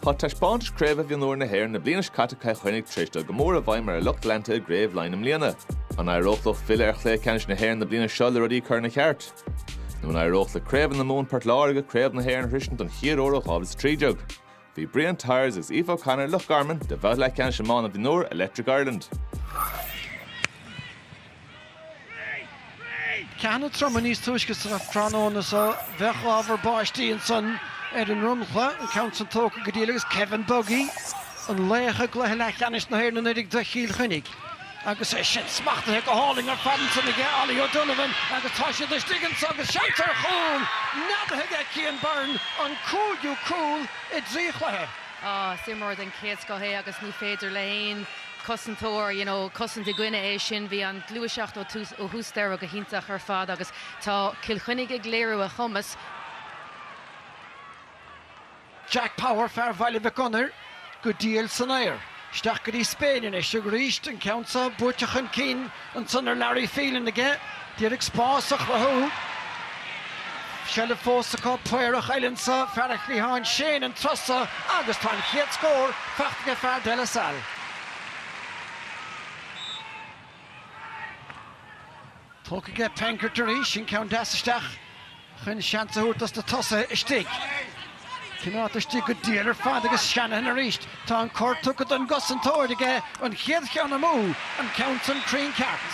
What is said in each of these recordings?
Tá Taispeántais Craoibhe Mhionúir na hÉireann na bliana seo caite Cill Chainnigh tar éis dul go mór i bhfeidhm ar a lucht leanta i gCraobh Laighin i mbliana. An éireodh leo filleadh ar Chluiche Ceannais na hÉireann na bliana seo le rudaí a chur ina cheart? Nó an éireodh le Craobhacha na Mumhan Port Láirge Craobh na hÉireann a shroisint don chéad uair ó 2013? Bhí Brian Tyers agus Aoife O'Connor, Loch Garman, do bhabhta leathcheannais iomána mhionúir Electric Ireland. Ceathanna troma níos túisce sa tráthnóna so, bheadh ábhar báistí ansan ar an ndromchla, an ceann san tógtha go diail agus Kevin Buggy, an laoch i gcluiche leathcheannais na hÉireann anuraidh do Chill Chainnigh, agus é sin smachtaithe go hálainn ar fad ansan aige Ollie O'Donovan agus tá siad istigh anso agus seans ar chúl neadaithe aige Cian Byrne, an cúigiú cúl i dtrí chluiche. Is imreoir den chéad scoth é agus ní féidir le haon cosantóir, you know cosaint i gcoinne é sin. Bhí an gluaiseacht ó tús, ó thús deireadh go hiontach ar fad agus tá Cill Chainnigh ag léiriú a chumas. Jack Power, fear Bhaile Mhic Gonair, go diail san aer. Isteach go dtí Spain anois arís, an ceann seo buaite chun cinn Ansan ar Larry Phelan aige d'iarraidh spás a chruthú. Bhí seilbh fós acu, Paorach eile anso, fear an chliatháin Shane an turas so agus tá an chéad scór faighte aige fear De La Salle. Tógtha aige Penkert arís, an ceann deas isteach. chun seans a thabhairt dos na tosaithe istigh. Ceann ard istigh go diail ar fad agus Shanahan arís, tá an cor tugtha don gcosantóir aige, an chéad cheann amú, an ceann san cruinn ceart.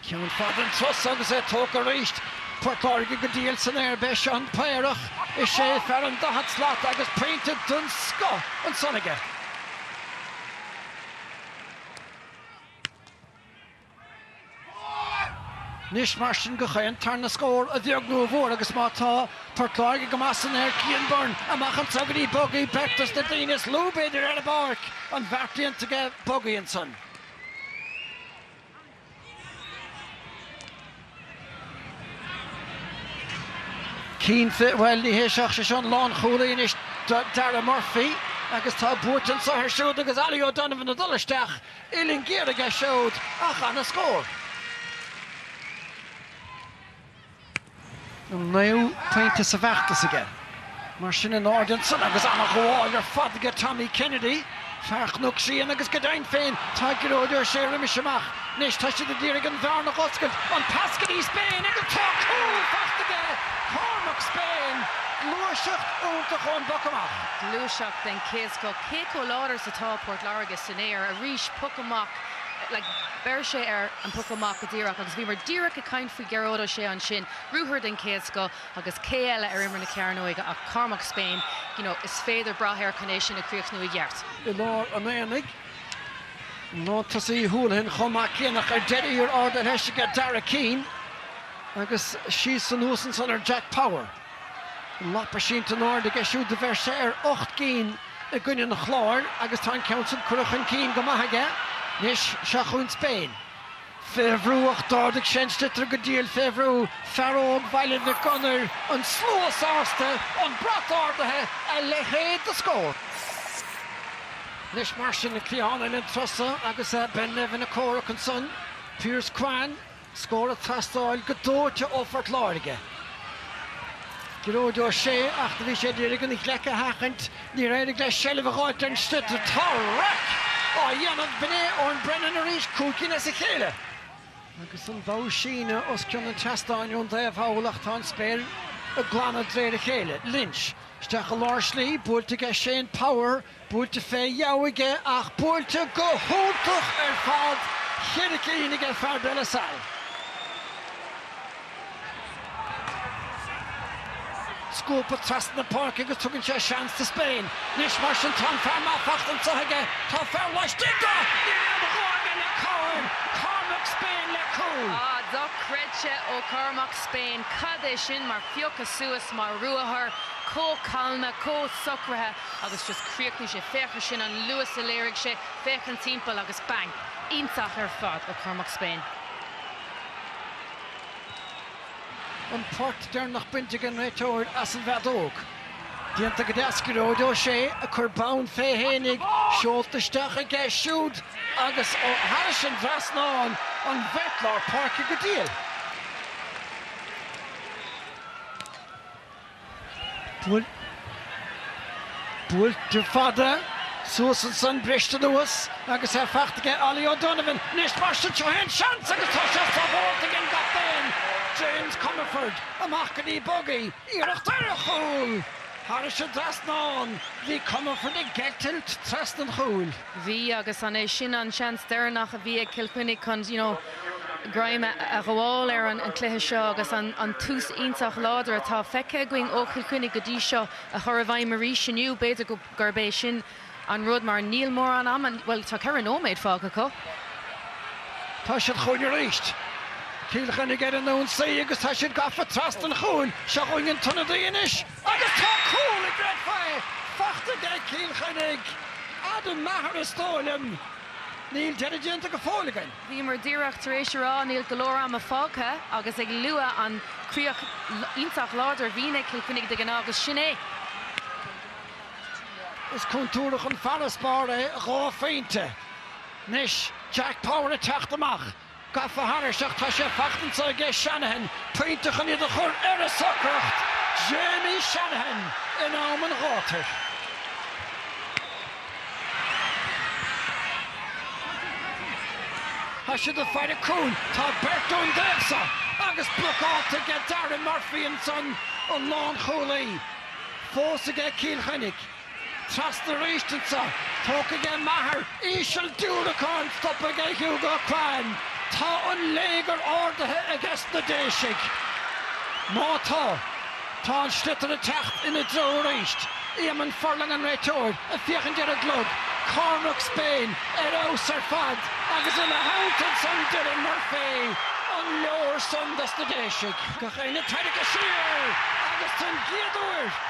Ceann fada an turas so agus é tógtha arís. Port Láirge go diail san aer, beidh Seán Paorach i sé fear an daichead slat agus pointe den scoth ansan aige. Anois, mar sin go dtí an tarna scór a bheag nó a mhór, agus má tá, tá Port Láirge go maith san aer, Cian Byrne, amach anso go dtí, Buggy, beirt as na daoine is lú, b'fhéidir, ar an bpáirc, an beart déanta aige, Buggy ansan. Cinnte, bhuel, ní hé seo, sé seo an lánchúlaí anois Darragh Murphy agus tá buaite anso air siúd agus Ollie O'Donovan ag dul isteach, uillinn géar aige siúd ach an-scór. an naoú pointe sa bhfeachtas aige. Mar sin in airde ansan agus an-ghabháil ar fad aige Tommy Kennedy, fear Chnoc Síon agus go deimhin féin tá Gearóid Ó Sé roimis amach. Anois tá siad a d'iarraidh an bhearna a dh'oscailt, an pas go dtí Spain agus tá cúl faighte aige Cormac Spain, gluaiseacht iontach ón bpoc amach. Gluaiseacht den chéad scoth, cé chomh láidir is atá Port Láirge san aer, arís poc amach, like, bheir sé ar an poc amach go díreach agus bhíomar díreach ag caint faoi, Gearóid Ó Sé ansin, ruathar den chéad scoth agus cé eile ar imeall na cearnóige ach Cormac Spain, you know, is féidir brath air chun é sin a chríochnú i gceart. I lár an aonaigh, lántosaí Holohan chomh maith céanna ach ar deireadh thiar ardaithe leis aige Darragh Keane agus síos anuas ansan ar Jack Power. An lapa sínte in airde aige siúd do bheir sé ar ocht gcinn i gcoinne an Chláir agus tá an ceann sin curtha chun cinn go maith aige anois. Seo chugainn Spain. Fé bhrú ach d'ardaigh sé an sliotar go diail fé bhrú, fear óg Bhaile Mhic Gonair, an slua sásta, an brat ardaithe, a leithéid de scór! Anois mar sin an cliathán thall an turas so agus Ben Nevin ag comhrac ansan, Pierce Quann, scór ag teastáil go dóite ó Phort Láirge. Gearóid Ó Sé, ach do bhí sé ag iarraidh an ghleic a sheachaint. Níor éirigh leis seilbh a dh'fháilt ar an sliotar tá raic á dhéanamh b'in é Eoin Brennan arís cúig cinn as a chéile. Agus an bogha síne os cionn an tseastáin ón dtaobh thall ach tá an spéir ag glanadh de réir a chéile. Lynch, isteach i lár slí, buailte aige Shane Power, buailte fé dheabhadh aige ach buailte go hiontach ar fad, cheithre cinn aige fear De La Salle. Scuabtha trasna na páirce agus tugann sé seans do Spain. Anois mar sin tá an fear maith faighte anseo aige. Tá fear laistigh de! Níl aon ghoimhe le Corn! Cormac Spain le cúl! Ah, dochreidte ó Chormac Spain. Cad é sin mar phiocadh suas, mar ruathar, chomh calma, chomh socraithe agus just chríochnaigh sé. Féach ar sin, an luas a léirigh sé, féachaint timpeall agus bang! Iontach ar fad ó Chormac Spain. An port deireanach bainte ag an réiteoir as an bhfeadóg. Déanta go deas ag Gearóid Ó Sé, a chuir bonn fé fhéinig, seolta isteach aige siúd agus ó thairis an dtrasnán, an bheirt lár páirce go diail. Buailte fada suas ansan, briste anuas agus é faighte aige Ollie O'Donovan. Anois mar sin, seo é an seans agus tá sé sábháilte ag an gcaptaen, James Comerford. Amach go dtí Buggy, iarracht ar chúl! Thairis an dtrasnán, bhí Comerford ag eitilt trasna an chúil. Bhí agus an é sin an seans deireanach a bhí ag Cill Chainnigh chun you know greim a ghabháil ar an chluiche seo agus an tús iontach láidir atá feicthe againn ó Chill Chainnigh go dtí seo a chur i bhfeidhm arís inniu? B'fhéidir gurb é sin an rud mar níl mórán ama, bhuel tá ceithre nóiméad fágtha acu. Tá siad chugainn arís. Cill Chainnigh ar an ionsaí agus tá siad gafa trasna an chúil. Seo chugainn an t-ionadaí anois. Agus tá cúl an gcreidfeá faighte aige ag Cill Chainnigh, Adam Maher is dóigh liom. Níl deireadh déanta go fóill againn. Bhíomar díreach tar éis a rá níl go leor ama fágtha agus ag lua an chríoch iontach láidir a bhíonn ag Cill Chainnigh de ghnáth agus sin é. Is contúirteach an farasbarr é dhá phointe. Anois Jack Power ag teacht amach. Gafa thairis ach tá sé fachta ansan aige Shanahan pointe chun iad a chur ar a socracht, Jamie Shanahan in am an ghátair. Tá siad ag faire cúil, tá beirt ón dtaobh seo agus blocáilte aige Darragh Murphy ansan an lánchúlaí fós aige Cill Chainnigh. Trasna arís ansan. Tógtha aige Maher íseal diúracán stoptha aige Hugo Quann. Tá an léigear ardaithe ages na Déisigh. Má tá, tá an sliotar ag teacht ina dtreo arís. Eamonn Furlong an réiteoir ag féachaint ar an gclog. Cormac Spain ar fheabhas ar fad agus ina theannta ansan Darragh Murphy. An leor san dos na Déisigh? Gach éinne tarraicthe siar agus don gcéad uair.